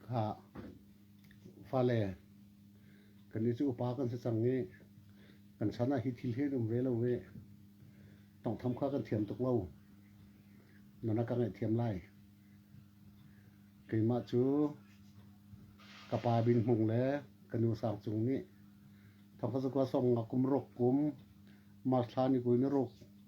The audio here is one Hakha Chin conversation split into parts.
Ha, fale, kan i cu upa kan si cang i, kan san ah hi thil hen um ve lo ve, tongtham kha kan thiam tuk lo, nana ka ngaih thiam lai. Keimah cu ka pa Bin Hmung le ka nu Sang Cung nih thongkha zakwa song nga kum ruk kum mas thla ni kui ni ruk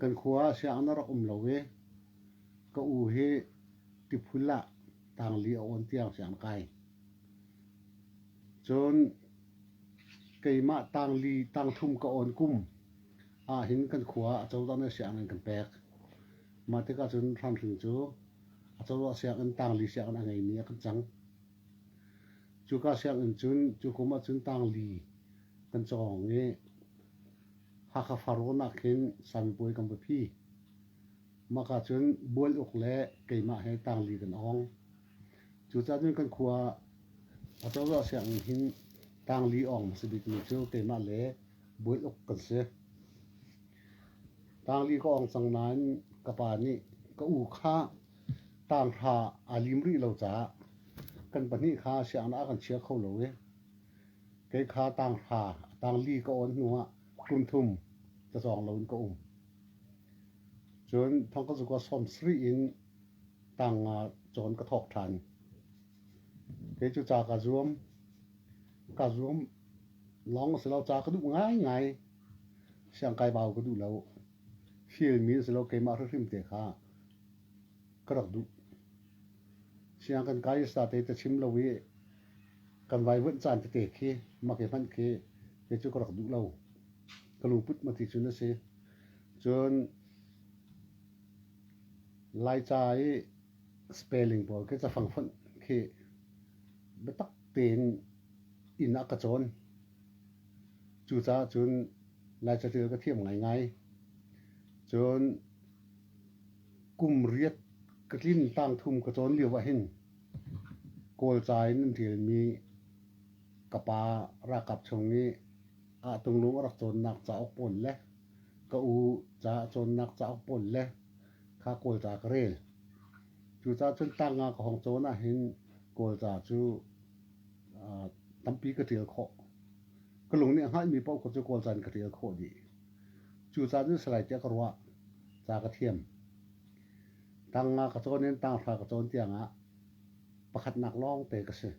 Kan khua ah sianginn a rak um lo i ka u hi tiphul ah tangli a awn tiang sianginn kai. Cun keimah tangli tangthlum ka awn kum ahhin kan khua ah acozah nih sianginn an kan pek. Mah tikah cun Hramhring cu acozah sianginn tangli sianginn a ngeimi a kan cang. Cuka sianginn cun cu kum ah cun tangli kan cawng i Hakha far ruahnak khin sanbawi kan va phi. Maka cun bual uk le keimah he tangli kan ong. Cucaah cun kan khua acozah sianginn hin tangli ong si bikmi cu keimah le bual uk kan si. Tangli ka ong cang nain ka pa nih ka u kha tang hra aa lim rih lo caah kan pahnih kha sianginn ah kan chia kho lo i Kei kha tanghra a tang li ka awn hnuah kum thum ka zawng loin ka um. Cun thongka zukua sawm sarih in tang nga cawn ka thawk ṭhan. Kei cu ca ka zuam. Ka zuam lawng a si lo, ca ka duh ngaingai. Siangkai bau ka duh lo. Hilmi a si lo, keimah hrimhrim te kha ka rak duh. Siangkan kai sa te ta chim lo i kan vaivuanh caan tete khi mak i hmanh khi kei cu ka rak duh lo ka luput ma ti cun a si cun laica i spelling pawl khi cafang fonh khi biatak tein inn ah ka cawn cucaah cun laica ṭial ka thiam ngaingai cun kum riat ka tlin tang thum ka cawn lio ah hin Kawlca in an ṭialmi ka pa ralkap chung i Ahtulung a rak cawnnak cauk pawl le ka u ca a cawnnak cauk pawl le kha Kawlca ka rel. Cucaah cun tangka ka hong cawn ahhin Kawlca cu aa tampi ka ṭial khawh. Ka lung nih a hngalhmi paoh kha cu Kawlca in ka ṭial khawh dih. Cucaah cun salai tiah ka ruah. Ca ka thiam. Tang nga ka cawn in tanghra ka cawn tiangah pakhatnak lawngte ka si.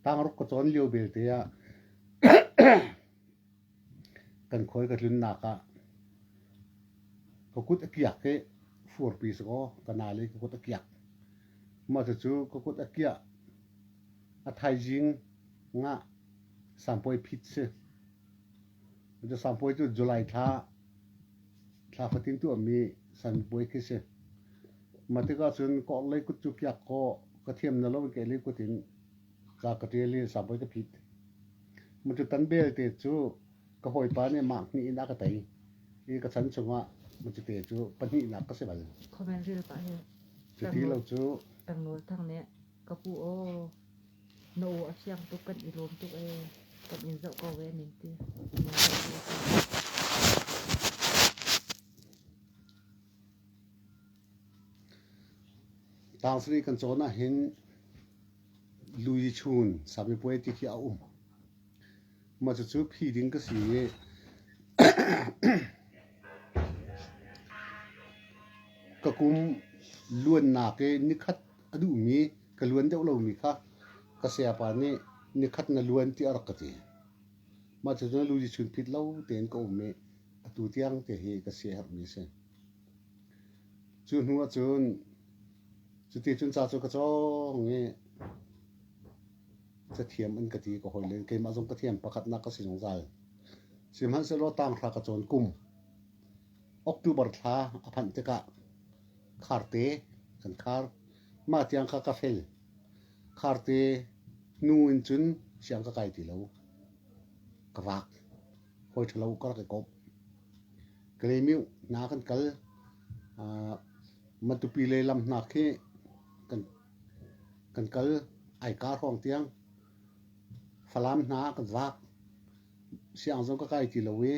Tangruk ka cawn lio belte ah kan khawi ka tlunnak ah ka kut a kiak i furpi sakaw ka nal i ka kut a kiak. Cucu ka kut a kiah a thaizing nga sampuai phit si. Biasang puai cu July thla, thla fatin tuahmi san puai khi si. Mah tikah cun ka orhlei kut cu kiak kaw ka thiam na lo in ka elei kut in ka ka ṭial i sang puai ka phit. Matutan belte cu ka hawipa nih mah hnih in a ka tei i ka chan chungah matute cu pahnihnak ka si bal. Khawvel ril pah hi. Cu ti lo cu. Tangnawl Thang nih Ka pu aw, na aw a fiang tuk, kan i lawm tuk ee. Kan in zoh ko ee ning ti. Na zoh ko Tangsi kan cawn ah hin lui chun sami puai ti khi a um. Ma cu phi ding ka si i ka kum luannak i nikhat a duhmi ka luan deuh lomi kha ka sayapa nih nikhat na luan tiah a rak ka ti. Mah cu na lu di chun phit lo tein ka um i atu tiang te hi ka si a herhmi a si. Cu hnu ah cun cuti cun ca cu ka cawng i cathiam an ka ti ka hawi le keimah zong cathiam pakhatnak ka si zungzal. Sihmanhsehlaw tang thla ka cawn kum October thla a phanh tikah Kharte kan khar. Mah tiang kha ka fel. Kharte nu in cun siang ka kai ti lo. Ka vak. Hawi ṭhalo ka rak i kawp. Kalemiu hna kan kal. Uh, Matupi le lam hna khi kan, kan kal ai ka hrawng tiang. Falam hna kan vak. Siang zong ka kai ti lo i,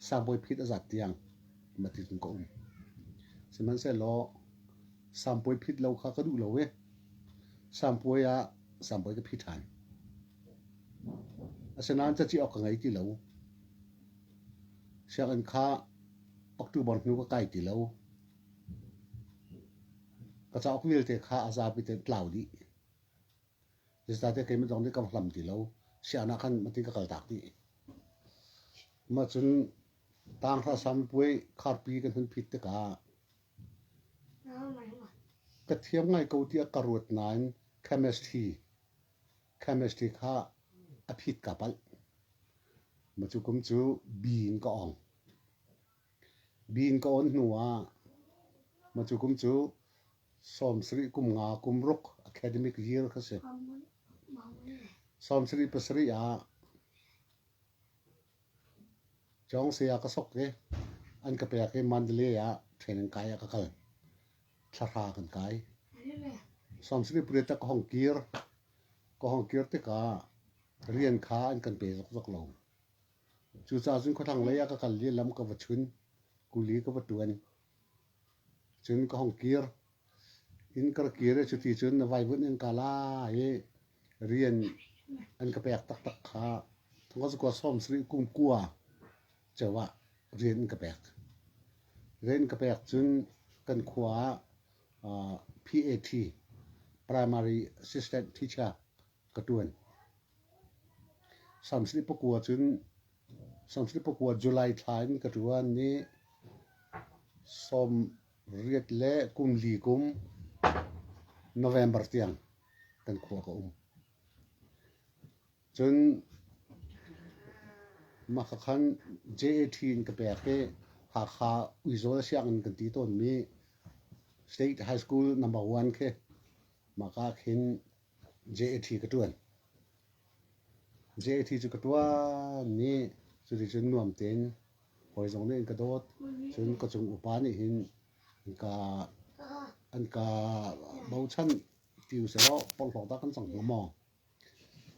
sangbawi phit a zat tiang. matling ka um. Sihmanhsehlaw sampuai phit lo kha ka duh lo i sampuai ah sampuai ka phi ṭhan. Asinain caci awk ka ngei ti lo. Sianginn kha October hnu ka kai ti lo. Ka cauk vialte kha a zapi te tlau dih. Zeicahte keimah zong nih ka hlam ti lo. Sianginn ah khan matin ka kal tak dih. Mah cun Taang hlasam puai kharpi kan hun phit tikah ka thiam ngai ko tiah ka ruat nain chemistry, chemistry kha a phit ka palh. Mah cu kum cu bi in ka ong. Bi in ka on hnu ah mah cu kum cu sawmsarih kum nga kum ruk academic year ka si. Sawmsarih pasarih ah Cawng saya ka sok i an ka pek i Mandalay ah training kai ah ka kal. Thlahra kan kai. Samsiri puret ah ka hong kir. Ka hong kir tikah rian kha an kan pe zokzok lo. Cucaah cun khua thlanglei ah ka kal i lam ka va chun. Kuli ka va tuan. Cun ka hong kir. Inn ka rak kir i cuti cun na vaivunh in ka la i rian an ka pek taktak kha thongkhat cakua sawmsarih kum kua ceu ah rian an ka pek. Rian ka pek cun kan khua ah aa PAT, Primary Assistant Teacher, ka ṭuan. Sawmsarih pakua cun Samhrit pakua July thla in ka ṭuan ni sawm riat le kum li kum November tiang kan khua ka um. Cun mah ka khan JAT in ka pek i Hakha Uizawl sianginn kan ti tawnmi State High School number one khi mah ka khin JAT cu ka tuan i cuticun nuam tein hawi zong nih an ka dawt. Cun ka cung upa nih hin an ka bochan ti usilaw porhlawt ah kan cang hnga maw?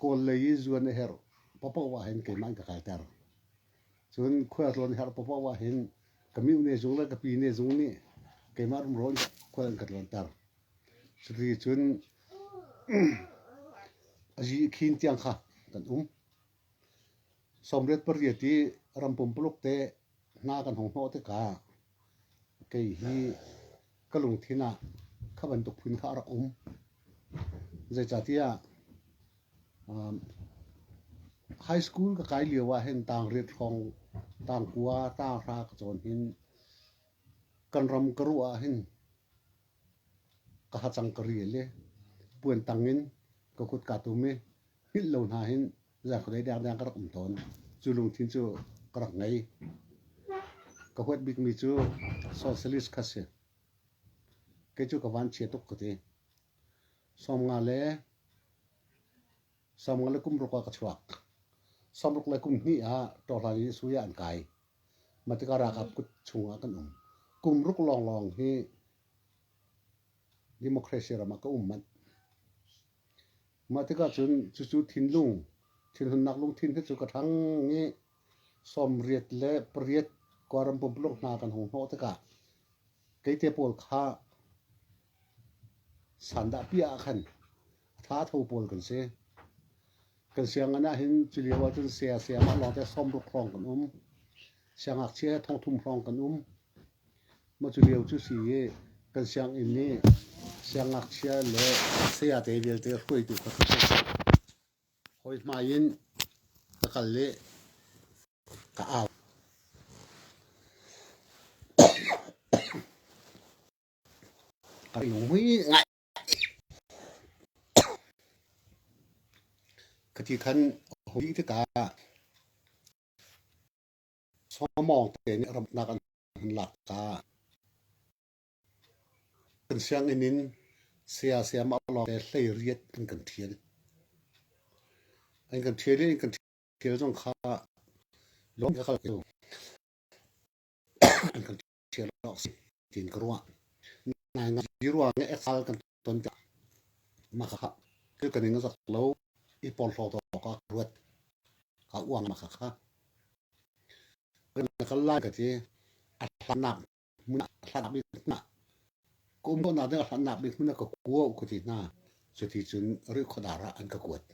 Kawl lei i zuan a herh paohpaoh ahhin keimah in ka kalter. Cun khualtlawn a herh paohpaoh ahhin ka mihne zung le ka pi ne zung nih keimah rumro in khual an ka tluanter. Cuticun a zihkhin tiang kha kan um. Sawmriat pariat i ram pumpuluk te hna kan hung hnawh tikah kei hi ka lungthin ah kha bantuk phun kha a rak um. Zeicahtiah um, high school ka kai lio ah hin tangriat hrawng, tangkua, tanghra ka cawn hin kan ram ka ruah ah hin Ka hacang ka ril i puan tang in ka kut kaa tum i hngilh lo hna hin zakhuadei dengdeng ka rak um tawn. Cu lungthin cu ka rak ngei. Ka huat bikmi cu socialist kha si. Kei cu ka vanchia tuk ka ti. Sawmnga le Samruk le kum ruk ah ka chuak. Samruk le kum hnih ah ṭawhhlan i sui ah an kai. Mah tikah ralkap kut chungah kan um. Kum ruk lawnglawng hi democracy ram ah ka um manh. Mah tikah cun cucu thinlung, thinhunnak lungthin hi cu ka ṭhang i sawmriat le pariat Kawlram pumpuluk hna kan hung hnawh tikah keite pawl kha Sandahpi ah khan thatho pawl kan si. Kan sianginn ah hin culio ahcun saya sayamah lawngte sawmruk hrawng kan um. Siangngakchia he thongthum hrawng kan um. Mah culio cu si i kan sianginn nih siangngakchia le sayate vialte hruaitu kha ka si. Hawi hmai in ka kal i ka au. A lungui ngai. Ka ti khan a hawi tikah sawmawng te nih ramnak an han lak ta. Kan sianginn in saya sayama lawngte hleiriat an kan ṭhial. An kan ṭhial i an kan ṭhial zong kha lawng in ka kal kho. An kan ṭhial. ṭhial awk si tiin ka ruah. Naingai i ruang i exal kan ton tik makhakha thil kan ing zak lo i porhlaw awk ah ruat a uang makhakha. Kan kal lai ka ti a hlannak hmun a hlannak bik hna ka um hna ding a hlannak bik hmun a ka kuo ka ti hna cuti cun ri khuadar ah an ka kuat.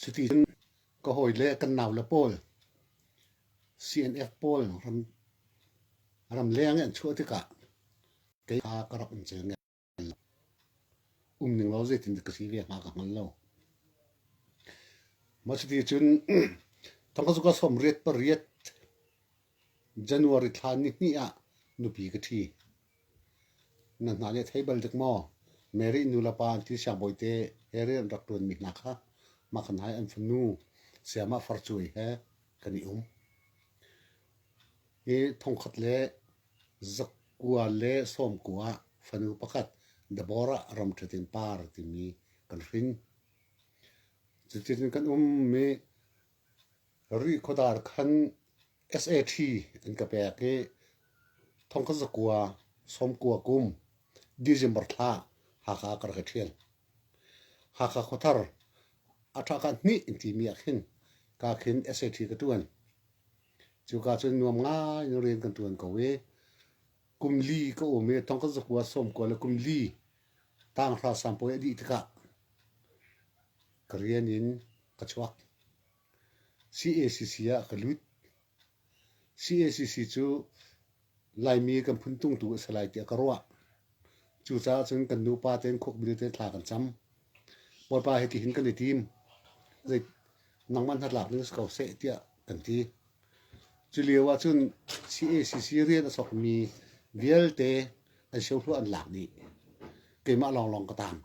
Cuticun ka hawile kan naule pawl CNF pawl ramleng i an chuah tikah kei kha ka rak um cio ngai lo. Um ning law zeitindah ka si ve hnga ka hngal lo. Mah cuticun thangka cu ka sawm riat pariat. January thla nihnih ah nupi ka ṭhi. Na hna nih a thei bal dek maw? Mary nulepa an ti siangbawite he rian rak ṭuanmi hna kha Makhanhai an fanu sayamah Farcuai he kan i um. Hi thongkhat le zakua le sawmkua fanu pakhat Deborah ramṭhetin par timi kan hrin. Cutin kan ummi Rih khuadar khan SAT an ka pek i thongkazakua sawmkua kum December thla Hakha ka rak i ṭhial. Hakha khuathar a ṭha ka hnih in timi ah khin ka khin SAT ka ṭuan. Cu ka cun nuam ngai in rian kan ṭuan ko i kum li ka um i thongkazakua sawmkua le kum li tanghrasam puai a dih tikah ka rian in ka chuak. CACC cu Laimi kan phun tungtu a si lai tiah ka ruah. Cucaah cun kan nupa tein khukbil tein thla kan cam. Bawipa hi tihin kan i tim. Zei nangmah hnatlak ding si ko seh tiah kan ti. Culio ahcun CACC rian a sawkmi vialte an siohluah an lak dih. Keimah lawnglawng ka taang.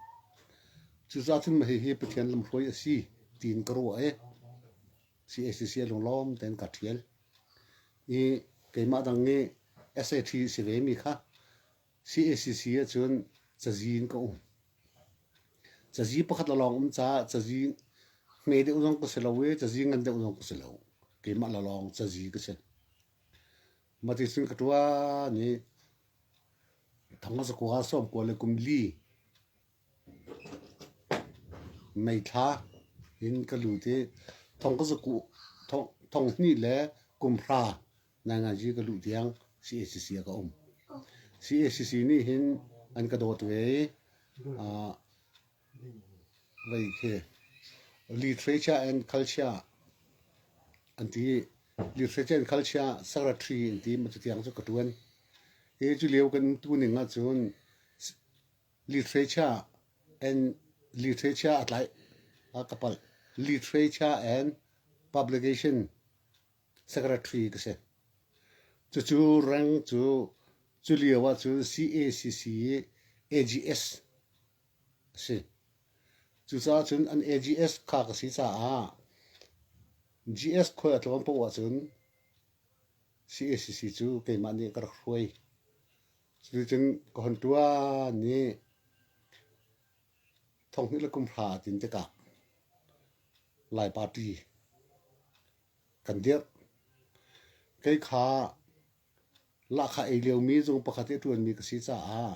Cucaah cun hihi Pathian lamhruai a si tiin ka ruah i CACC a lunglawm tein ka ṭhial. I keimah dang i SAT si vemi kha CACC ahcun cazi in ka um. Cazi pakhat a lawng um caah cazi ngei deuh zong ka si lo i cazi ngan deuh zong ka si lo. Keimah le lawng cazi ka si. Maticun ka ṭuan i Thangazakua Sawmkua le kum li meithla in ka lut i thongzaku thong, thong hnih le kum hra Naingazi ka luh tiang CACC ah ka um. CACC nih hin an ka dawt ve i uh, vai khi literature and culture an ti literature and culture secretary in ti ma tiang cu ka tuan e cu leo kan tu ning a cun literature and literature a tlai a kapal literature and publication Secretary ka si. Cucu rank cu culio ahcun CACC i AGS a si. Cucaah cun an AGS kha ka si caah GS khual a tlawn poh ahcun CACC cu keimah nih ka rak hruai. Cuticun ka hun ṭuan i thonghnih le kumhra a tlin tikah Lai Party kan dirh. Kei kha lahkhah ei liomi zung pakhat i a ṭuanmi ka si caah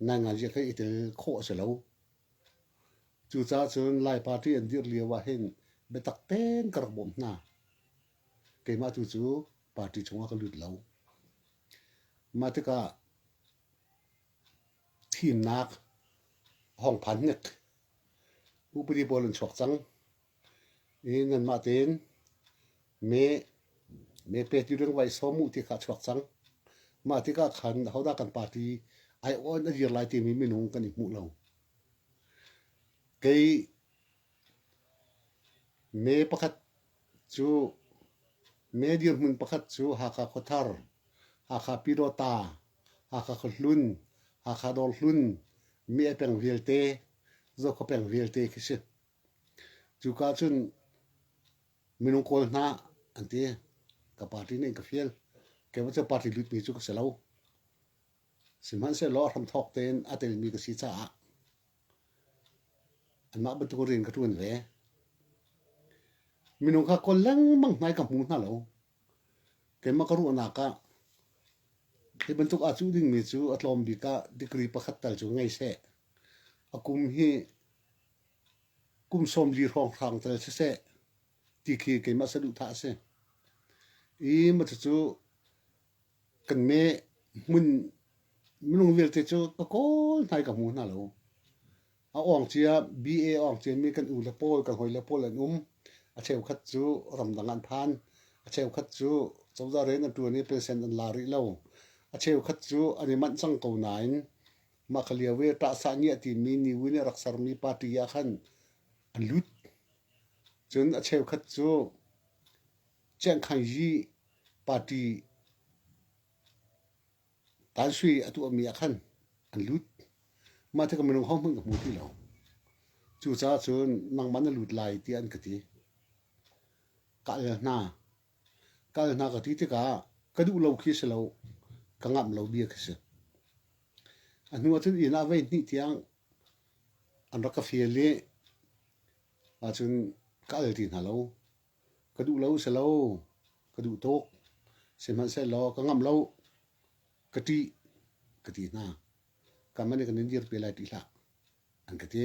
naingazia kan i tel khawh a si lo. Cucaah cun Lai Party an dirh lio ahhin biatak ten ka rak bawm hna. Keimah tu cu party chungah ka lut lo. Mah tikah thimnak hawngphan hnek upadi pawl an chuak cang. i nanmah tein mee, mee pe ti ding vai sawm uh ti kha a chuak cang. Mah tikah khan ahodah kan party aiawh a dir lai timi minung kan i hmuh lo. Kei mee pakhat cu mee dirhmun pakhat cu Hakha Khuathar, Hakha Pyidawta, Hakha Khuahlun, Hakha Dawrhlun, Mie peng vialte, Zokhua peng vialte khi si. Cuka cun minung kawl hna an ti. Ka party nih ka fial. Kei cu party lutmi cu ka si lo. Sihmanhsehlaw hramthawk tein a telmi ka si caah anmah bantukin rian ka ṭuan ve. Minung kha kawl lengmang hna i ka hmu hna lo. Keimah ka ruahnak ah hi bantuk aa cuh dingmi cu a tlawm bik ah degree pakhat tal cu ngei seh. A kum hi kum sawm li hrawng hrang tal siseh ti khi keimah saduhthah a si. I macacu kan me hmun minung vialte cu ka kawl hnai ka hmu hna lo. A awng cia BA awng cia mi kan u le pawl kan hoi le pawl an um. A cheukhat cu ramdang an phan. A cheukhat cu cozah rian an ṭuan i pensen an la rih lo. A cheukhat cu an i manh cang ko nain Mah ka lio i ṭahsah ngiah timi New in a rak sermi party ah khan a lut. Cun a cheukhat cu Chiang Khai Yi party tan sui a tuahmi ah khan an lut. Mah ti ka minung hohmanh ka hmu ti lo. Cucaah cun nangmah na lut lai tiah an ka ti. Ka al hna. Kal hna ka ti tikah ka duh lo khi si lo, ka ngamh lo bia khi si. A hnu ahcun inn ah voi hnih tiang an rak ka fial i ahcun ka al ti hna lo. Ka duh lo si lo, ka duh tuk. Sihmanhsehlaw ka ngamh lo, ka ṭih ka ti hna. Kam an i kan in dir te lai ṭih hlah. an ka ti.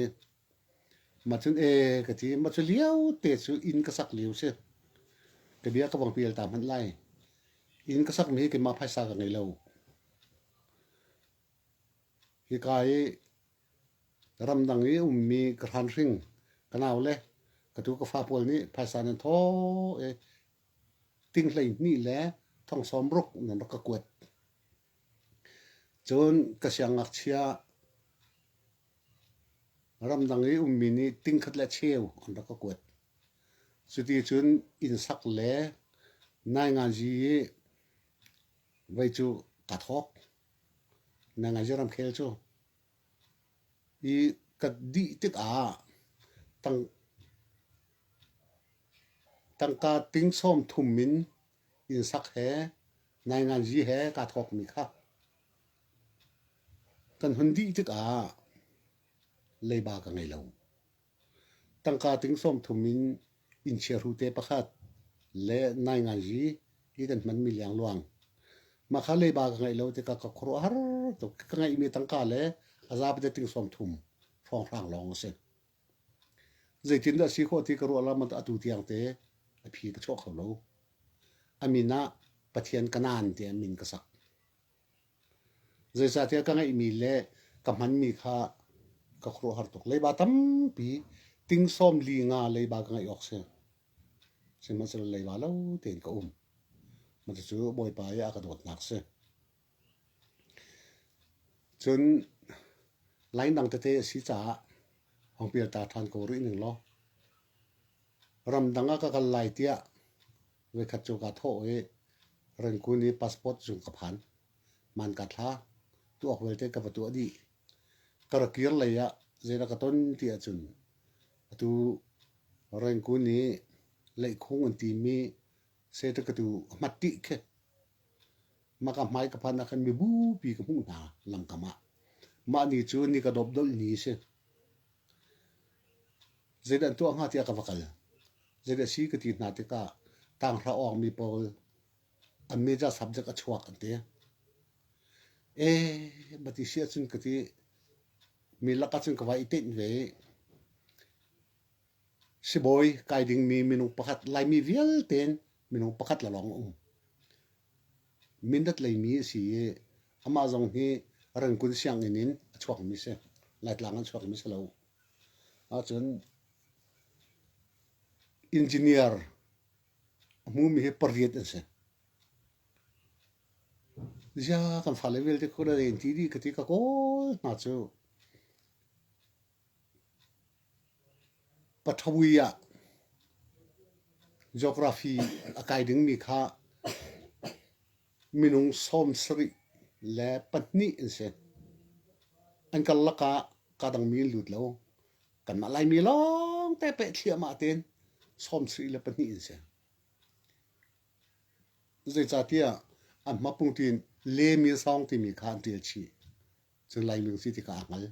Ma cun e ka ti, ma cu liao te cu inn ka sak liu si. Ka bia ka bang pial ta hmanh lai. Inn ka sak mi hi keimah phaisa ka ngei lo. Hi ka i ramdang i ummi ka hran hring ka nau le ka tu ka fa pawl nih phaisa nan tho e ting hlei hnih le thong sawm ruk nan rak ka kuat. Cun ka siangngakchia, ramdang i ummi nih tingkhat le cheu an rak ka kuat. Cuticun innsak le nainganzi i vei cu ka thawk. Nainganzi ramkhel cu. I ka dih tikah tang, tangka ting sawm thum in Innsak he nainganzi he kaa thawkmi kha kan hun dih tikah leiba ka ngei lo. Tangka ting sawm thum in innchiahru te pakhat le nainganzi i kan hmanmi liangluang. Mah kha leiba ka ngeih lo tikah ka khuaruah har tuk. Ka ngeihmi tangka le a zapi te ting sawm thum hrawnghrang lawng a si. Zeitindah a si khawh ti ka ruah lawmah atu tiangte a phi ka chuah kho lo. A min ah Pathian ka nan tiah min ka sak. Zeicahtiah ka ngeihmi le ka hmanmi kha ka khuaruahhar tuk. Leiba tampi tingsawm li nga leiba ka ngeih awk si. Sihmanhsehlaw leiba lo tein ka um. Mah cucu Bawipa i a ka dawtnak si. Cun lainang tete a si caah hawngpial ta ṭhan ko rih ning law ramdang ah ka kal lai tiah voikhat cu kaa thawh i Rengkun i passport zung ka phan. Man kaa thla. Tuak vialte ka va tuah dih. Ka ra kir lei ah zeidah ka ton ti ahcun atu Rengkun i leihkhung an timi seitakatu a hmat ṭih khi. maka hmai ka phan ah khan mibupi ka hmuh hna langkam ah mah ni cu ni ka dop dolh ni si zeidan tuah hnga tiah ka va kal zeidah si ka ti hna tikah tanghra awng mi pawl an meja subject a chuak an ti e bati sia cun ka ti mi laka cun ka vai i tein ve sibawi kai ding mi minung pakhat laimi vialte minung pakhat la lawng um Mindat leimi a si i amah zong hi Rangkun sianginn in a chuakmi si. Laitlang an chuakmi si lo. Ahcun engineer a hmumi hi pariat an si. Ziah kan fale vialte khuda in ti dih ka ti ka kawl hna cu. Paṭhawui ah geography a kai dingmi kha minung sawm sarih le pahnih an si. An karlak ah kaa dangmi an lut lo. Kanmah Laimi lawngte peh thliahmah tein sawm sarih le pahnih an si. Zeicahtiah an hmapung tiin le min sawng timi kha an ṭial chih. Cun Laimi a si tikah a hngal.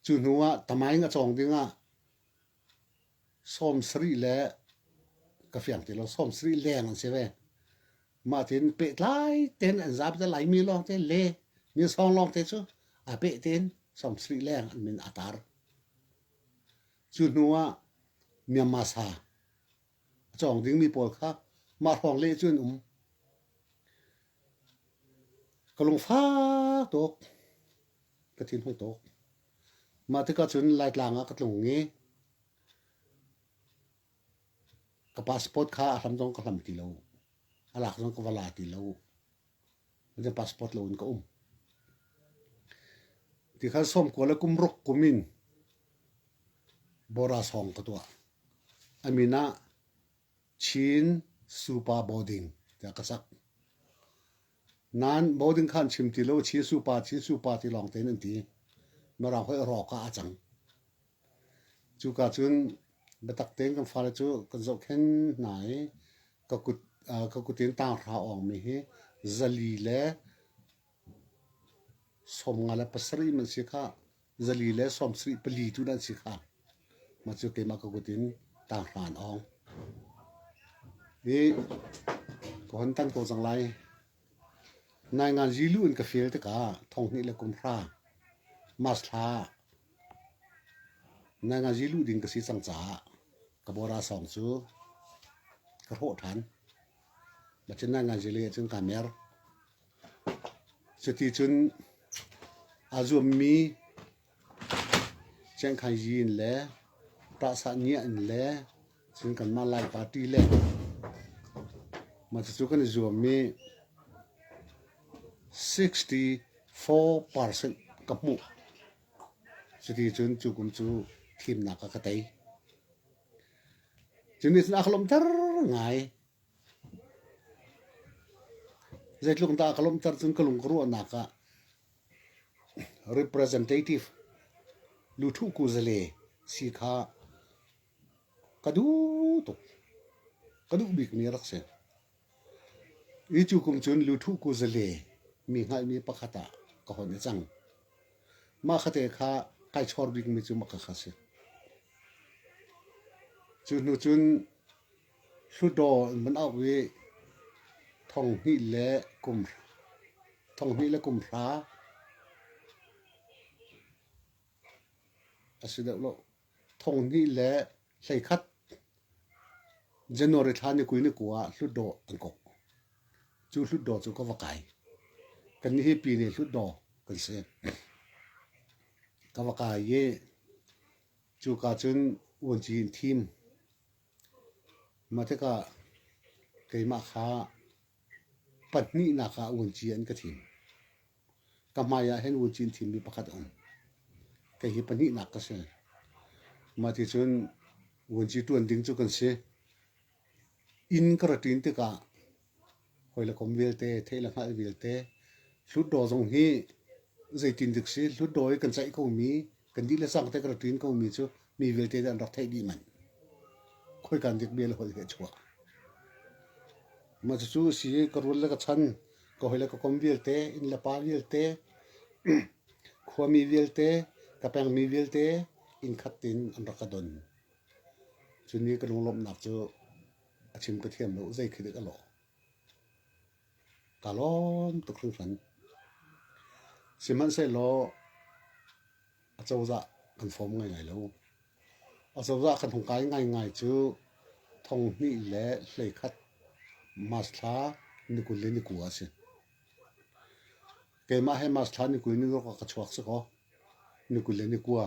Cu hnu ah tamaing a cawng ding ah sawmsarih le ka fiang ti lo sawmsarih leng an si ve. Mah tin pehtlai tein an zap te laimi lawng te le ninsawng lawng te cu a peh tein sawmsarih leng an min a tar. Cu hnu ah Myanmar sa a cawng dingmi pawl kha mah hrawng leh cu an um. Ka lungfak tuk. Ka thinhung tuk. Mah tikah cun Laitlang ah ka tlung i ka passport kha a hlam zong ka hlam ti lo. A lak zong ka va la ti lo. Zan passport lo in ka um. Ti khan sawmkual le kum ruk kum in Borasawng ka tuah. A min ah Chin Supa Boarding tiah ka sak. Nain boarding kha an chim ti lo. Chin Supa, Chin Supa ti lawng tein an ti. Mirang hoih rawk ah a cang. Cuka cun biatak tein kan fale cu kan zohkhenh hna i ka kut, ka kut in tang hra awngmi hi zali le Sawm nga le pasarih in an si khah. Zali le sawmsarih pali tu in an si khah. Mah cu keimah ka kut in taanghmaan awng. I ka hun tan ko cang lai. Naingan zilu in ka feel tikah thonghnih le kumhra mas thla naingan zilu ding ka si cang caah ka bawra sawng cu ka hrawh ṭhan. Mah cu naingan zile ahcun kaa mer. Cuticun aa zuammi cengkhaiji in le ṭahsahniah in le cun kanmah Lai party le mah cucu kan i zuam i sixty four percent ka hmuh. Cuticun cu kum cu thimnak ah ka tei. Cu nih cun a ka lawmhter ngai. Zeitluk in dah a ka lawmhter cun ka lung ka ruahnak ah representative luthuhku zale si kha ka duh tuk. Ka duh bikmi a rak si. Hi cu kum cun luthuhku zale mi hngalhmi pakhat ah ka hon i cang. Mah kha te kha kai chawr bikmi cu mah kha kha a si. Cu hnu cun Hluttaw an van auh i thonghnih le kum hra a si deuh lo. Thonghnih le hleikhat January thla ni kul ni kua ah Hluttaw an kok. Cu Hluttaw cu ka va kai. Kannih hi Pyine Hluttaw kan si. Ka va kai i cuka cun vuanci in thim. Mah tikah keimah kha pahnihnak ah vuanci an ka thim. Ka hmai ah hin vuanci an thimmi pakhat a um. Kei hi pahnihnak ka si. Mah ticun vuanci ṭuan ding cu kan si. Inn ka ra ṭin tikah Hawi le kom vialte, thei le hngalh vialte. Hlutdaw zong hi zeitin dik si, hlutdaw i kan ceih komi, kan dih le sang te kan rak ṭin komi cu mi vialte nih an rak theih dih manh. Khoikan dik bia le holh hi a chuak. Mah cucu a si i ka rual le ka chan, ka hawi le ka kom vialte, inn le pa vialte, khuami vialte, ka pengmi vialte inn khat in an rak ka don. Cun i ka lunglawmhnak cu A chim ka thiam lo, zei khi dah ka lawh? Ka lawm tuk hringhran. Sihmanhsehlaw acozah kan fawm ngaingai lo. Acozah kan hung kai ngaingai cu thong hnih le hlei khat masthla nikul le ni kua a si. Keimah he masthla nikul ni ruk ah ka chuak si kaw, nikul le ni kua.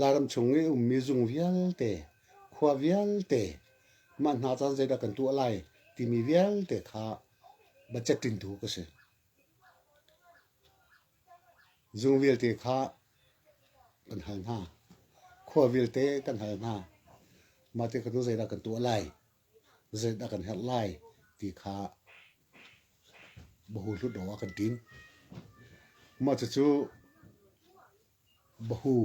Lairam chung i ummi zung vialte, khua vialte, mah hna caan zeidah kan tuah lai timi vialte kha budget ṭintu ka si. Zung vialte kha kan hal hna. Khua vialte kan hal hna. Mah te kha tu zeidah kan tuah lai? Zeidah kan herh lai? Ti kha bahu hlut awk ah kan ṭin. Mah cucu Bahu,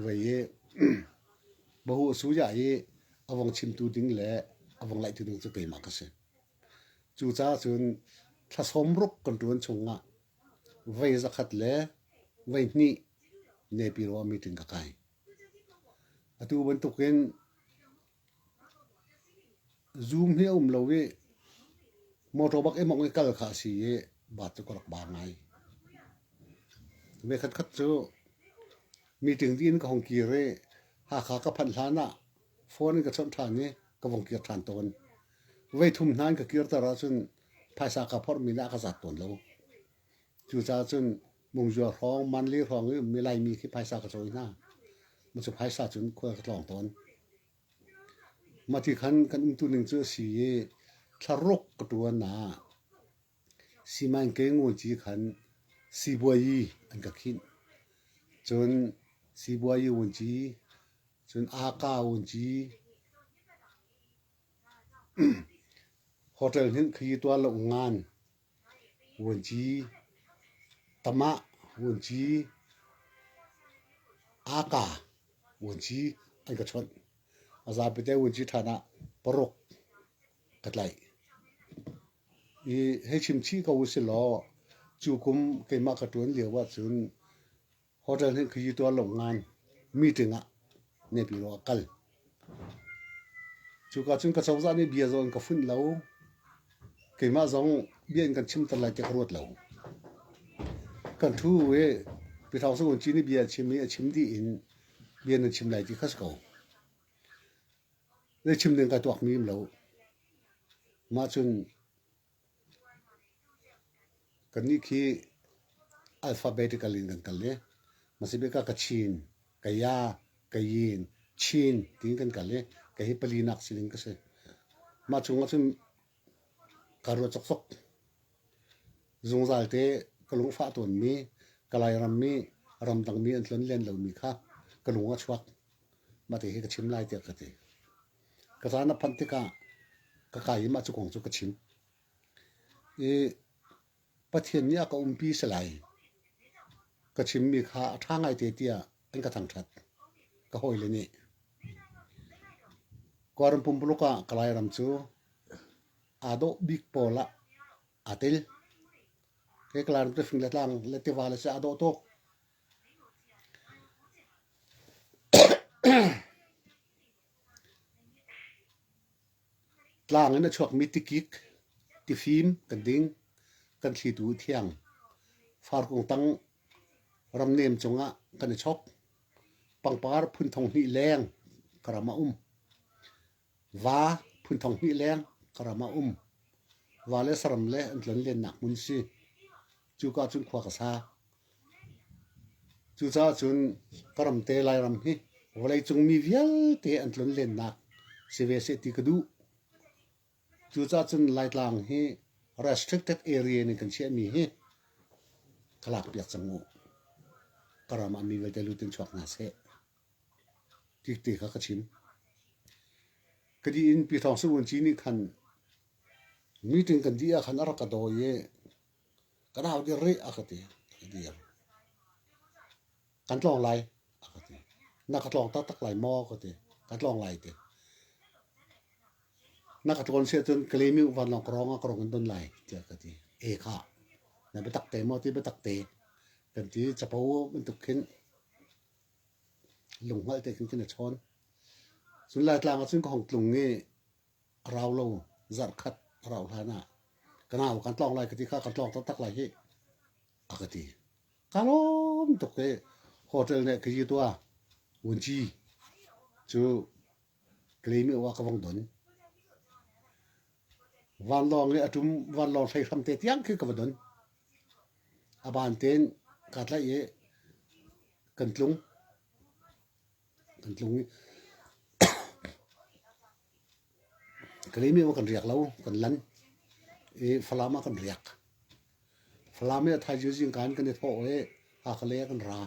vei i bahu a suya i a vong chimtu ding le a vong ngaihtu ding cu keimah ka si. Cucaah cun thlasawm ruk kan ṭuan chungah vei zakhat le vei hnih nepi ruah meeting ka kai. Atu bantukin Zung hi a um lo i motor bak in mongeh kal kha a si i bus cu ka rak ba ngai. Vekhat khat cu meeting tiin ka hong kir i Hakha ka phanh hlan ah phone in ka chawnh ṭhan i ka vong kir ṭhan tawn. Voi thum hna in ka kirter ahcun phaisa ka phorhmi nih a ka zat tawn lo. Cucaah cun Mungzua hrawng, manli hrawng i ummi Laimi khi phaisa ka cawi hna. Macu phaisa cun khua ka tlawng tawn. Mati khan kan umtu ning cu a si i thlaruk ka tuan ah siman ke ngunci khan sibuai an ka khinh. Cun sibuai wunci, cun aka wunci, hotel hnih khi tual lo ngan Vuanci tamah, vuanci aka, vuanci an ka chawnh. A zapi te vuanci ṭhan ah paruk ka tlaih. I hei chimchih ko usihlaw, cu kum keimah ka ṭuan lio ahcun Hotel nih khuayitu a lawmh ngai. Meeting ah nehpi law a kal. Cuka cun ka cozah nih bia zong in ka funh lo. Keimah zong bia in kan chimter lai tiah ka ruat lo. Kan thu i Pi Thau Sa Kun Cin nih bia a chim i a chim dih in bia nan chim lai ti kha si ko. Na chim ning kai tuak mi um lo. Mah cun Kannih khi alphabetically in kan kal i Masibika Kachin, Kaya, Kayin, Chin tiin kan kal i kei hi pali nak sining ka si. Mah chung ahcun kaa ruat cokcok. Zungzal te ka lungfah tawnmi, Kalay rammi, ramdangmi an tlonlen lomi kha ka lung a chuak. Mah te hi ka chim lai tiah ka ti. Ka zan a phanh tikah ka kai i mah cu kong cu ka chim. I Pathian nih a ka umpi si lai ka chimmi kha a ṭha ngaite tiah an ka thangṭhat ka hawile nih. Kuala Lumpur ah ka Lairam cu aa dawh bik pawl ah aa tel. Kei ka Lairam cu fing le tlang le tiva le si aa dawh tuk. Tlang in a chuakmi tikik, tifim kan ding. Kan thlitu a thiang. Farkung tang ramnem cungah kan i chok. Pangpar phunthong hnih leng ka ram a um. Va phunthong hnih leng ka ram a um. Va le saram le an tlanlennak hmun si. Cuka cun khua ka sa. Cucaah cun ka ramte Lairam hi vawleicung mi vialte an tlun lennak si ve seh ti ka duh. Cucaah cun Laitlang hi restricted area in kan chiahmi hi ka lakpiak cang u. Ka ram ah mi vialte lut in chuak hna seh. Tikte kha ka chim. Kadi in Pi Thawng Sung Wun Ci nih khan meeting kan dih ah khan a rak ka dawi i Kan hau dir rih a ka ti. Ka dir. Kan tlawng lai a ka ti. Na ka tlawng taktak lai maw ka ti. Kan tlawng lai ti. Na ka tlawn si cun ka lemiu vanlawng ka rong ah ka rong in don lai tiah ka ti. E kha. Na biatak te maw ti biatak te. Kan ti capo bantuk khin lunghngalh te khin khin a chawn. Cun Laitlang ah cun ka hong tlung i a rau lo zarh khat a rauh hlan ah ka nau kan tlawng lai ka ti kha kan tlawng taktak lai hi a ka ti ka lawm tuk i hotel nih ka yi tua wunci cu ka le mi ka vong don vanlawng i atum vanlawng hrei hram te tiang khi ka va don a ban ten ka tlaih i kan tlung Kan tlung i Kaliim ah kan riak lo, kan lan i Falam ah kan riak. Falam i a thaizing zing kan kan i thawh i Hakale ah kan ra.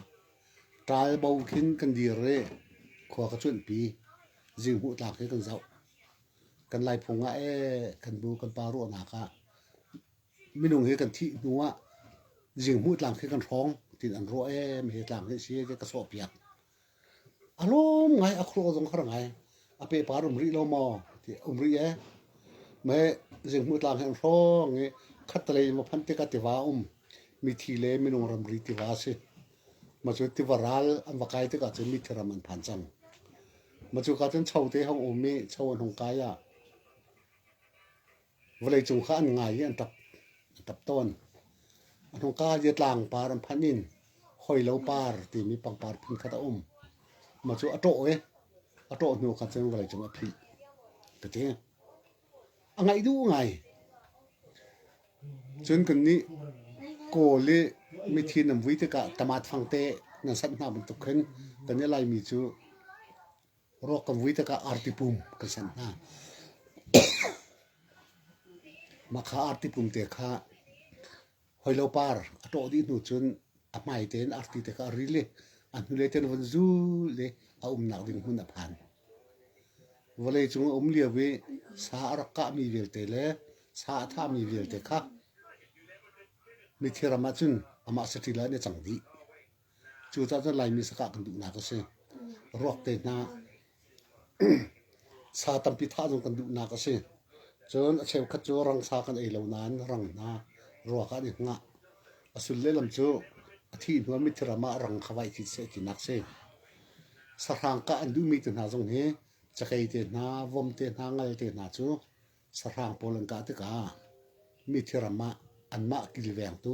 Ṭaal bo khin kan dir i khua ka cuanhpi. Zinghmuh tlak hi kan zoh. Kan laiphung ah ee kan bu kan pa ruahnak ah Minung hi kan thih hnu ah zinghmuh tlang khi kan hrawng tiin an ruah em hi tlang hi a si ti ka sawhpiak. A lawm ngai, a khuaruah zong har ngai. A pepa an um rih lo maw ti um rih ee. Me zinghmuh tlang hi an hrawng i khattelei in ma phanh tikah tiva um mithi le minung ramri tiva a si. Ma cu tiva ral an va kai tikah cun mithi ram an phan cang. Ma cu ka cun cho te hong um i cho an hung kai ah vawleicung kha an ngai i an tap a tap tawn. A hnungka hi tlang par an phanh in hawilo par timi pangpar phun khat a um. Ma cu a ṭawh i a ṭawh hnu khan cun vawleicung a phih ka ti. A ngaih duh ngai. Cun kannih kawl i mithi nan vui tikah tama thang te nan sanh hna bantuk khin kan i laimi cu Ruak kan vui tikah arti pum kan senh hna. Mah kha arti pum te kha hawilo par a ṭawh dih hnu cun a hmai tein arti tikah a ril i a hnulei tein a von zul i a umnak ding hmun a phan. Vawlei cung a um lio i sa a rak kahmi vialte le sa a thami vialte kha mithiram ah cun amah saṭil ah hin a cang dih. Cu cah cu Laimi sakah kan duhnak a si. Ruak te hna sa tampi thah zong kan duhnak a si. Cun a cheukhat cu rangsa kan ei lo nain rang hna ruak ah an i hngah. A sulle lam cu a thi hnuami thiram ah rang kha vai thit seh tinak si. Sahrang kah an duhmi te hna zong hi cakei te hna, vom te hna, ngal te hna cu sahrang pawl an kah tikah mi thiram ah anmah kilvengtu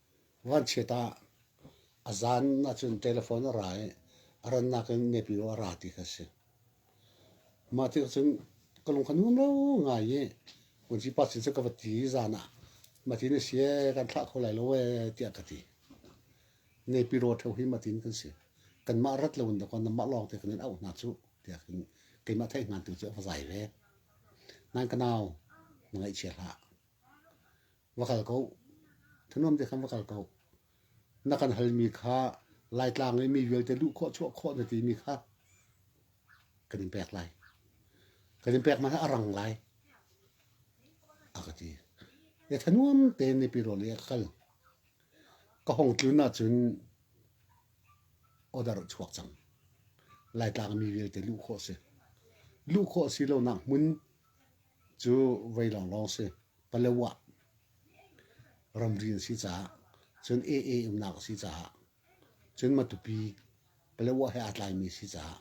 Vanchiat ah a zan ahcun telephone a ra i a rannak in Nepio a ra ti kha a si. Mah tikah cun ka lung kha nuam lo ngai i vunci pa sin cu ka va ti i zan ah matin a si ee kan thlah kho lai lo ee tiah ka ti. Nepiro ṭheo hi matin kan si. Kanmah rat lo in dakaw nanmah lawngte kan in auh hna cuh tiah khin keimah theihhngan tu cu a va zai ve. Nan ka nau na ngaihchia hlah. Va kal ko. Thanuam te khan va kal ko. Na kan halmi kha Laitlang i mi vialte luh khawh chuah khawh na timi kha kan in pek lai. Kan in pek hmanh a rang lai. A ka ti. E thanuam tein ni pirawl i a kal. Ka hong tlun ahcun odar chuak cang. Laitlang mi vialte luh khawh si. Luh khawh si lo nak hmun cu voi lawnglawng si. Palawan ramri an si caah cun AA umnak a si caah cun Matupi Palawan he aa tlaimi a si caah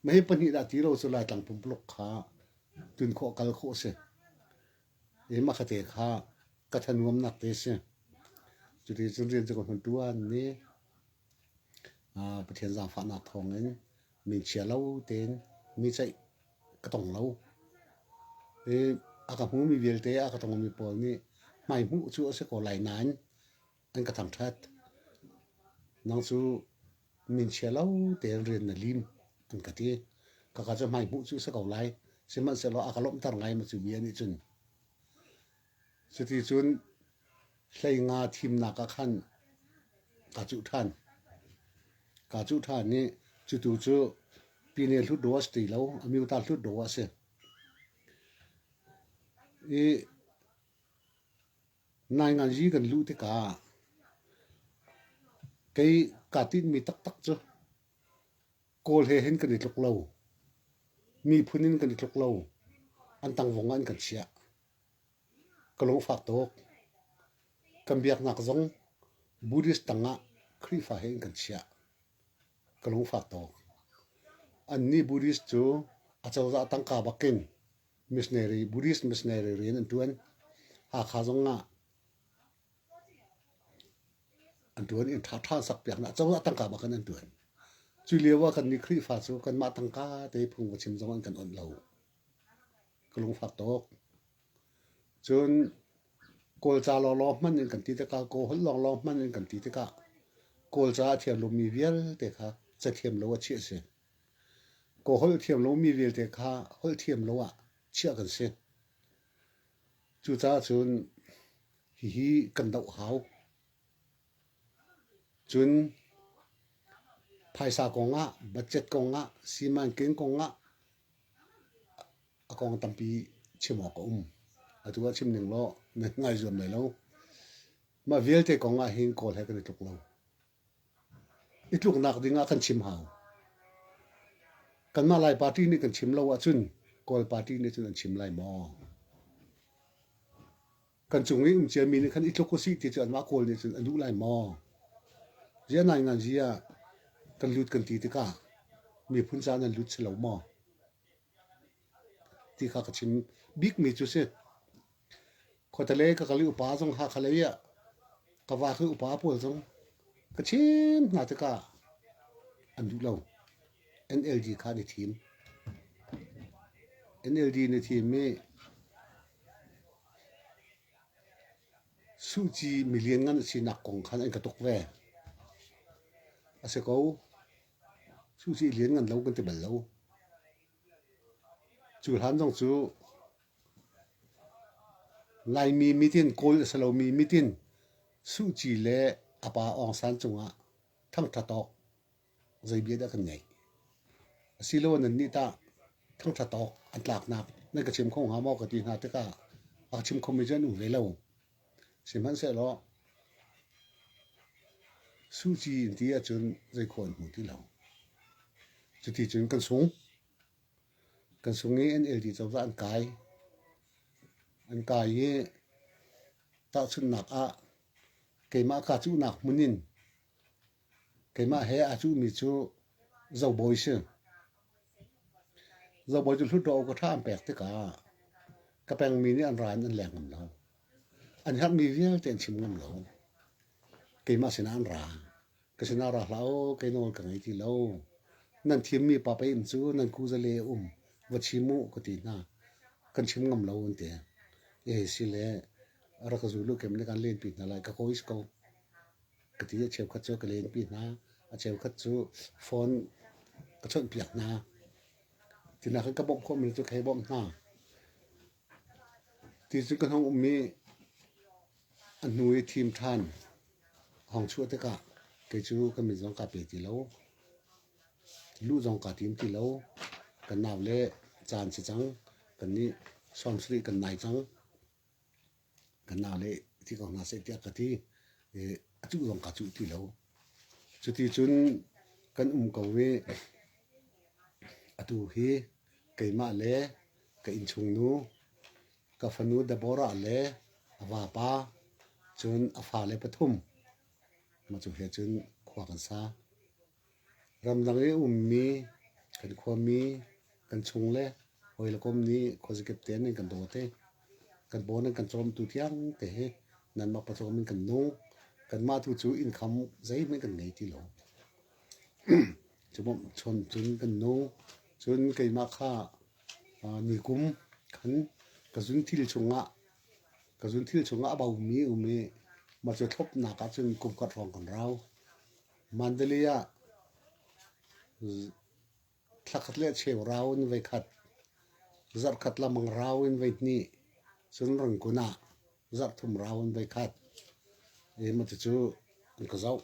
mah hi pahnih dah ti lo cu Laitlang pumpuluk kha tun khawh kal khawh a si. I mah kha te kha ka thanuamnak te a si. Cuti cun rian cu ka hman ṭuan ne. Pathian zaangfahnak thawngin min chia lo tein mi ceih ka tong lo. I a ka hmumi vialte, a ka tongmi pawl nih hmai hmuh cu a si ko lai nain an ka thangṭhat. Nang cu min chia lo tein rian na lim an ka ti. Kaka cu hmai hmuh cu a si ko lai. Sihmanhsehlaw a ka lawmhter ngai mi cu bia nih cun Cuticun hleinga thimnak ah khan kaa cuh ṭhan. Kaa cuh ṭhan i cutu cu pine hlut dawh a si ti lo, a miotar hlut dawh a si. I naingan yi kan luh tikah kei kaa tinhmi taktak cu kawl he hin kan i tluk lo, miphun in kan i tluk lo, an tangvung ah an kan chiah. Ka lung a fak tuk. Kan biaknak zong Buddhist tangah Khrihfa he in kan chiah. Ka lung a fak tuk. Annih Buddhist cu acozah tangka bakin missionary, Buddhist missionary rian an ṭuan. Hakha zongah an ṭuan i an ṭha ṭhan sakpiaknak acozah tangka bakin an ṭuan. Cu lio ah kannih Khrihfa cu kanmah tangka te phung va chim zong an kan awnh lo. ka lungfak tuk. Cun Kawlca lawnglawng hmanh in kan ti tikah, Kawhulh lawnglawng hmanh in kan ti tikah, Kawlca a thiam lomi vialte kha cathiam lo ah chiah a si. Kawhulh thiam lomi vialte kha holh thiam lo ah chiah kan si. Cucaah cun hihi kan doh hau. Cun phaisa kong ah, budget kong ah, siman ken kong ah a kong tampi chim awk a um. Atu ah chim ning law na ngai zuam lai lo. Mah vialte kong ah hin kawl he kan i tluk lo. I tluknak ding ah kan chim hau. Kanmah Lai party nih kan chim lo ahcun Kawl party nih cun an chim lai maw? kan cung i um ciami nih khan i tluk usih ti cu anmah kawl nih cun a duh lai maw? Zia ngaingan zia kan lut kan ti tikah miphun ca nan lut si lo maw? Ti kha ka chim. Bikmi cu si. Khuatale ka kali upa zong ha khalei ah ka va kha upa pawl zong ka chim hna tikah an duh lo. NLD kha ni thim. NLD ni thim i Suhci milianngan a sinak kong khan an ka tuk ve. A si ko. Suhci lianngan lo kan ti bal lo. Cu hlan zong cu Laimi mitin, Kawl a si lomi mitin, Suhci le a pa Aung San cungah thangṭhat awk zei bia dah kan ngaih. Asiloin nannih tah thangṭhat awk an tlaknak nan ka chim kho hnga maw ka ti hna tikah a ka chim khomi cu an um hlei lo. Sihmanhsehlaw suci in ti ahcun zei khawh an hmu ti lo. Cuti cun kan sung. Kan sung i NLD cozah an kai. An kai i tahchunhnak ah keimah ka cuhnak hmun in Keimah he a cuhmi cu Zobawi si. Zobawi cu Hluttaw ka tha an pek tikah ka pengmi nih an ra in an leng ngam lo. An herhmi vialte an chim ngam lo. Keimah sinah an ra. Ka sinah ra hlah u, kei nawl ka ngei ti lo. Nan thimmi pa pei-inn cu nan kuzale a um, va chim u ka ti hna. Kan chim ngam lo an ti. Ehi si le rak ka zul u, keimah nih kan lenpi hna lai, ka kawis ko. Ka ti a cheukhat cu ka lenpi hna. A cheukhat cu phone ka chawnhpiak hna. Tinak in ka bawmh khawhmi cu ka hei bawmh hna. Ti cu ka hnung um i a hnu i thim ṭhan hong chuah tikah kei cu ka mit zong kaa pe ti lo. Luh zong kaa tim ti lo. Kan nau le caan si cang. Kannih sawm sarih kan nai cang. Kan na le ti ko hna seh tiah ka ti. A cuh zong ka cuh ti lo. Cuti cun kan um ko i atu hi keimah le ka innchungnu, ka fanu Deborah le a vapa, cun a fale pathum, mah cu he cun khua kan sa. Ramdang i a ummi kan khuami, kan chung le hawi le kom nih khuazakip te an kan daw te. Kan pawn an kan cawmtu tiangte hi nanmah pawcawm in kan nung. Kanmah tu cu innkham zeihmanh kan ngei ti lo. Cun cun kan nung. Cun keimah kha nikum khan ka zunthil chungah ka zunthil chungah a baumi um i mah cu thlopnak ahcun kum khat hrawng kan rau. Mandalay ah thla khat le cheu rau in voi khat, zarh khat lamang rau in voi hnih, cun Rangoon ah zarh thum rau in voi khat i matucu an ka zoh.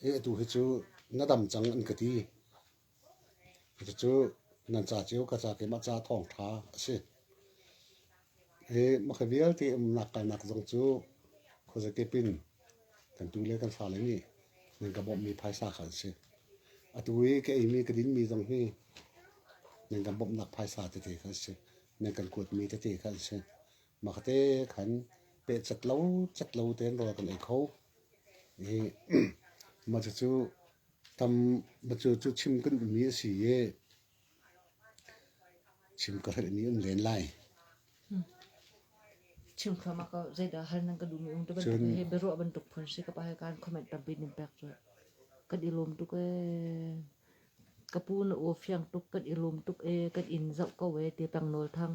I atu hi cu na dam cang an ka ti. Cucu nan ca cio ka ca keimah ca thawngṭha a si. Hi makha vialte umnak kalnak zong cu khuazakip in kan tu le kan fale nih nan ka bawmhmi phaisa kha an si. Atu i ka eimi ka dinmi zong hi nan kan bawmhnak phaisa tete kha an si. Nan kan kuatmi tete kha an si. Mahte khan pehcat lo cat lo tein rawl kan ei kho. I mah cucu tam matu cu chim kan ummi a si i chim ka herhmi um len lai. Chim kham a ka zeidah hal nan ka dumi ung te bantuk he beruah bantuk phun si ka pa he kan comment tampin in pek cu kan i lom tuk e ka pu na u fiang tuk kan i lom tuk e kan in zauh ko e ti pang nawl thang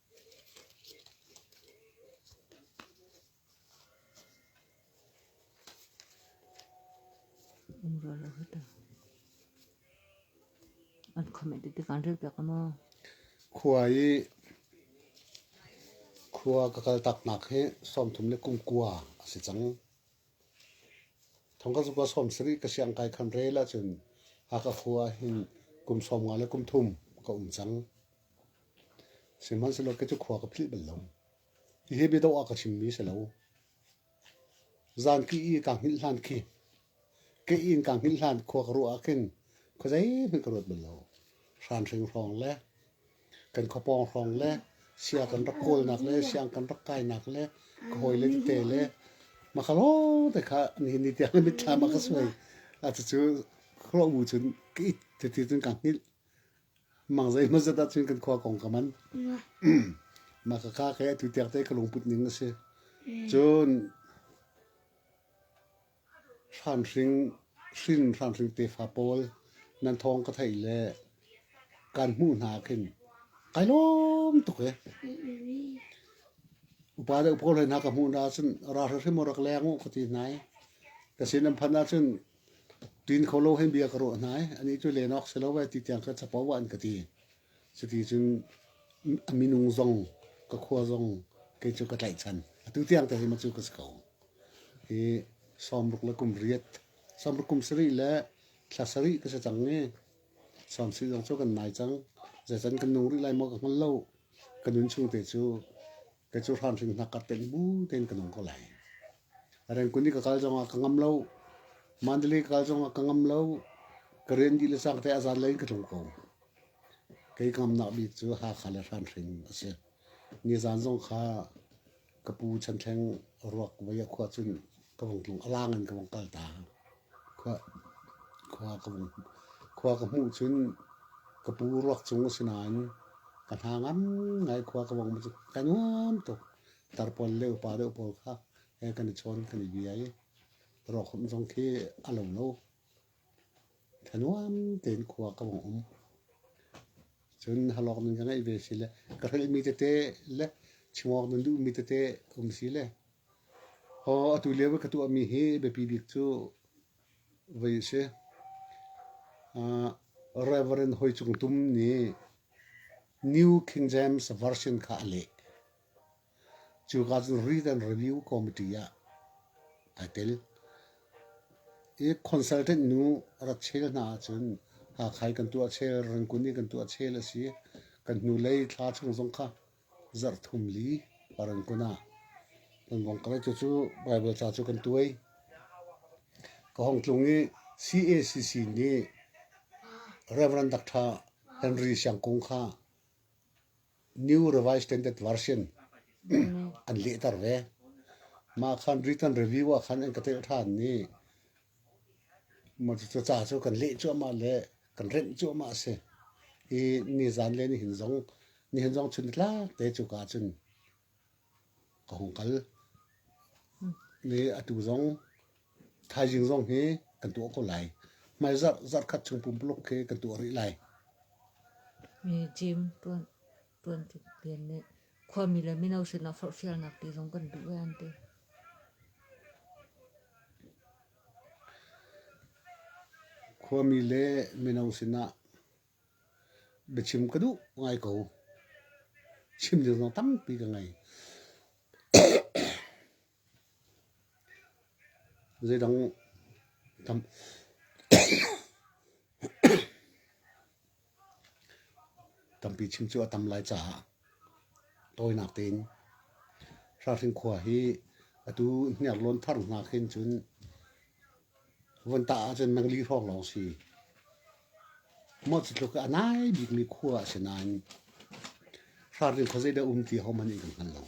Khua i khua ka kal taknak hi sawmthum le kum kua a si cang. Thong ka zukua sawm sarih ka siang kai khan rel ahcun Hakha khua hin kum sawm nga le kum thum ka um cang. Sihmanhsehlaw kei cu khua ka philh bal lo. Hihi biadawh ah ka chimmi si lo. Zanki i kaa hngilh hlan khi, ke inn kaa hngilh hlan khua ka ruah ah khin khua zeihmanh ka ruat bal lo. Hranhring hrawng le kan khuapawng hrawng le sia kan rak kawlnak le siang kan rak kainak le ka hawile tete le mahka lawngte kha nihin ni tiang le mitthlam ah ka suai. A cucu khuaruahmu cun ka it tete cun kaa hngilh. Mang zei hmazet ah cun kan khua kong ka man. Mah ka ka ke tu tiak te ka lungput ning a si. Cun hranhring hrin hranhring tefa pawl nan thong ka thei le kan hmu hna khin kai lom tuk e. Upa le upo le hna ka hmu na cun ra hra hrim rak leng u ka ti nai. Ka sin an phan ah cun Tin kho lo hei bia ka ruah hna i anih cu len awk si lo ve ti tiang kha capo ah an ka ti. Cuti cun a minung zong ka khua zong kei cu ka tlaihchan. Atu tiang te hi ma cu ka si ko. Hi sawmruk le kum riat, sawmruk kum sarih le thla sarih ka si cang i sawm sih zong cu kan nai cang. Zecan kan nung rih lai maw ka hngal lo. Ka nun chung te cu Kei cu hramhring hnak ka tenh bu tein ka nung ko lai. Rengkun i ka kal zongah ka ngam lo. Mandali ka kal zongah ka ngam lo. Ka rian dih le sang te azan lai ka tlung ko. Kei ka ngamnak bik cu Hakha le hramhring a si. Nizan zong kha ka pu Chan Thleng ruak vei a khua cun ka vung tlung. A lang in ka vung kal ta. Khua ka hmuh cun ka pu ruak cung a si nain ka hna ngai khua ka vong cu ka nuam tuk. Tarpaul le upa deuh pawl kha kan i chawn kan i bia i rawkhawmh zong khi a lo lo. Tha nuam tein khua ka vong um. Cun halawk nan ka ngeih ve si le ka hrilhmi tete le chim awk nan duhmi tete um si le Aw atu lio i ka tuahmi hi biapi bik cu voi a si. Aa Reverend Hoi Cung Tum nih New King James Version kha a leh. Cuka cun Read and Review Committee ah aa tel. I consultant nu rak chel hna ahcun Hakha i kan tuah chel, Rangkun i kan tuah chel a si. Kan hnulei thla chung zong kha Zarhthum li Parangon ah kan vong kal i cucu Baibal ca cu kan tuai. Ka hong tlung i CACC nih Reverend Dr. Henry Siang Kung kha New Revised Standard Version an lehter ve. Mah khan Britain Review ah khan an ka telh ṭhan i Cuca cu kan leh cuahmah le kan renh cuahmah a si i nizan le nihin zong nihin zong chun nitlak te cuka ahcun ka hung kal. Ni atu zong thaizing zong hi kan tuah ko lai. Hmai zarh zarh khat chung pumpuluk khi kan tuah rih lai. Mi gym tuan. tuanti len nih khuami le mino sinah forhfialnak ti zong kan duh e an ti. Khuami le mino sinah biachim ka duh ngai ko. Chim ding zong tampi ka ngei. Zeidang tam. Tampi chim cu a tam lai caah tawinak tein Hralhring khua hi atu hniarlawn thar hna khin cun Vun tah ahcun mangli hrawng lawng si. Mah cutluk a nai bikmi khua a si nain hranring khuazei dah um ti hohmanh in kan hngal lo.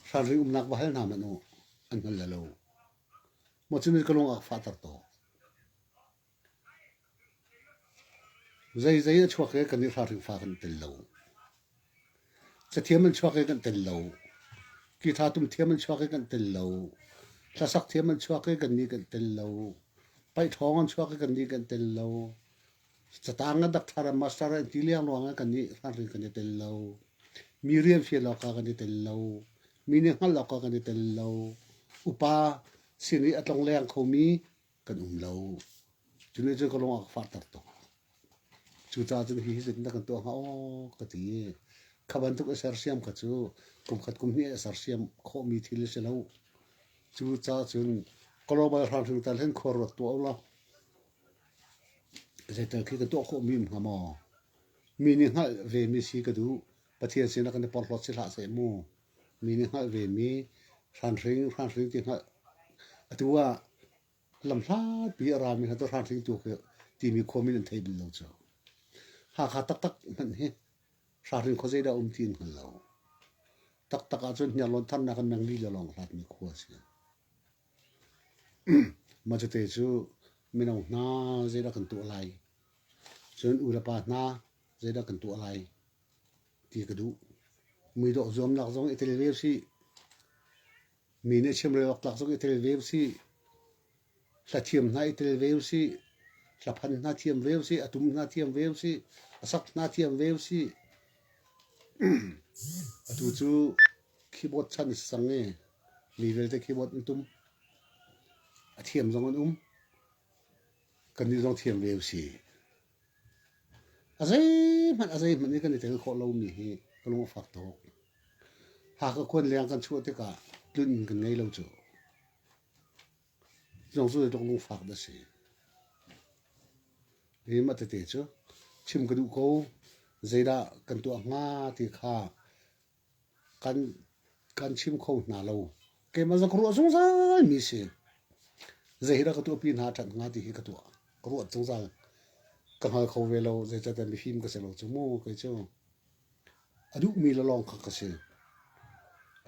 Hranring umnak va hal hna hmanh u, an hngal lo. Mah cu na ka lung ah fahter taw. Zeizei a chuak i kan i ralringfa kan tel lo. Cathiam an chuak i kan tel lo. Kitha tum thiam an chuak i kan tel lo. Hlasak thiam an chuak i kan ni kan tel lo. Paihṭhawng an chuak i kan ni kan tel lo. Catang a dakthar a master an ti liang ruang ah kan i ralring kan i tel lo. Mi rian fial awk ah kan i tel lo. Mi nih hngalh awk ah kan i tel lo. Upa sin i a tlongleng khomi kan um lo. Cu ne cu ka lung a ka fahter tuk. Cucaah cun hi zin na kan tuah hnga aw ka ti i kha bantuk a sersiam kha cu kum khat kum hnih a sersiam khawhmi thil a si lo. Cucaah cun global hramhring tal hin khuaruat tuah u law zeital khi ka tuah khawh mi hnga maw? Mi nih hngalh vemi si ka duh. Pathian sinah kan i porhlawt si hlah seh mu. Mi nih hngalh vemi hranhring, hranhring ti hngalh. Atu ah lamhlapi a rami hna cu hranhring tu khi timi khuami nan thei bal lo cu. Hakha taktak hmanh hi hranhring khua zeidah um ti an hngal lo. Taktak ahcun hniarlawn tharnak in mengli le lawng hlatmi khua a si. Mah cute cu mino hna zeidah kan tuah lai? Cun u le pa hna zeidah kan tuah lai? ti ka duh. Muidawh zuamnak zong i tel ve usih. Mi nih chim relawktlak zong i tel ve usih. Hlathiam hna i tel ve usih. Hlaphan hna thiam ve usih. A tum hna thiam ve usih. A sak hna thiam ve usih. Atu cu keyboard chan a si cang i mi vialte keyboard an tum. A thiam zong an um. Kannih zong thiam ve usih. A zeihmanh a zeihmanh i kan i tel khawh lomi hi ka lung a fak tuk. Hakha khuan leng kan chuah tikah tlun kan ngei lo cu. Zong cu zeitluk lungfak dah a si. Hi mah tete cu chim ka duh ko. Zeidah kan tuah hnga ti kha kan chim kho hna lo. Keimah zak ruah zungzal mi si. Zei hi dah ka tuahpi hna ṭhan hnga ti hi ka tuah. Ruat zungzal ka hngal kho ve lo. Zeicahtiah mifim ka si lo cu mu kei cu. A duhmi le lawng kha ka si.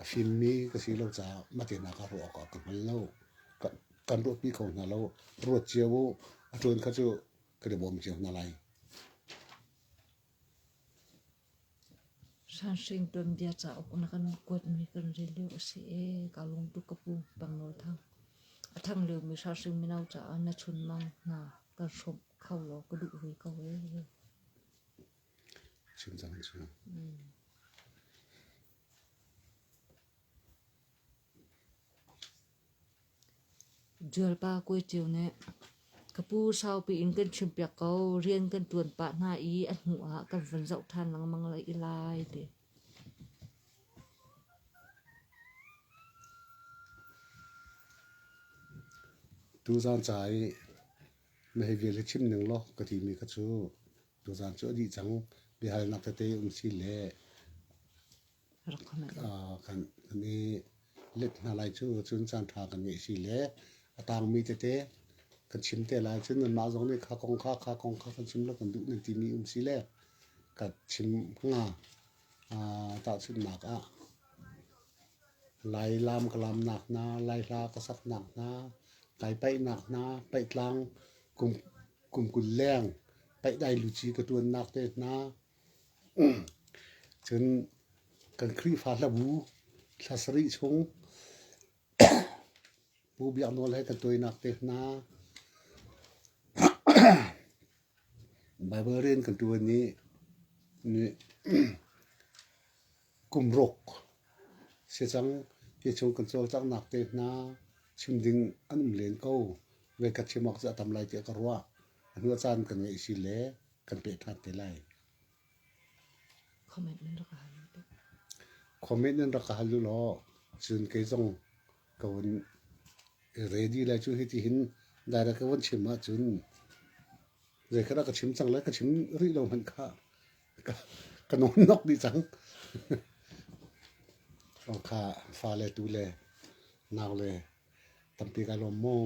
A fimmi ka si lo caah matenak a ruah awkah ka hngal lo. Kan ruahpi kho hna lo. Ruat cio u. A ṭuan kha cu kan i bawm cio hna lai. Hranhring tuanbia cauk na kan kuatmi kan rel lio a si ee ka lung tuk ka pu Pangngaw Thang. A thang liomi hranhring mino caah na chunmang hna kan hrawmh kho law ka duh ve ko ee. Chimcang cu. Ṭialpa Kue Ṭiu nih ka pu saupi in kan chimpiak ko rian kan ṭuan pah hna i a hnu ah kan van zoh ṭhan lengmang lai ti. Tuzaan ca i na hei vial hi chim ning law ka timi kha cu tuzaan cu a dih cang biahalnak tete um si le kan i let hna lai cu cun caanṭha kan ngeih si le a tangmi tete kan chim te lai cun nanmah zong nih kha kong kha kha kong kha kan chim la kan duh nan timi um si le ka chim hnga tahchunhnak ah lai lam ka lamnak hna lai hla ka saknak hna kai paihnak hna paih tlang kum kum kul leng paih dai luci ka tuannak te hna Cun kan Khrihfa hla bu thla sarih chung Pu Biak Nawl he kan tuainak te hna, Baibal rian kan ṭuan i kum ruk si cang ti chung kan cawlcanghnak te hna, chim ding an um len ko, voi khat chim awk cu a tam lai tiah ka ruah. A hnu a caan kan ngeih si le kan peh ṭhan te lai. Comment nan rak hal law. Comment nan rak hal law cun kei zong ka vun ready lai cu hiti hin direct ka vun chim ahcun zei kha dah ka chim cang lai ka chim rih lo hmanh kha ka, ka nawn nok dih cang. kha fale tu le nau le tampi ka lawm maw.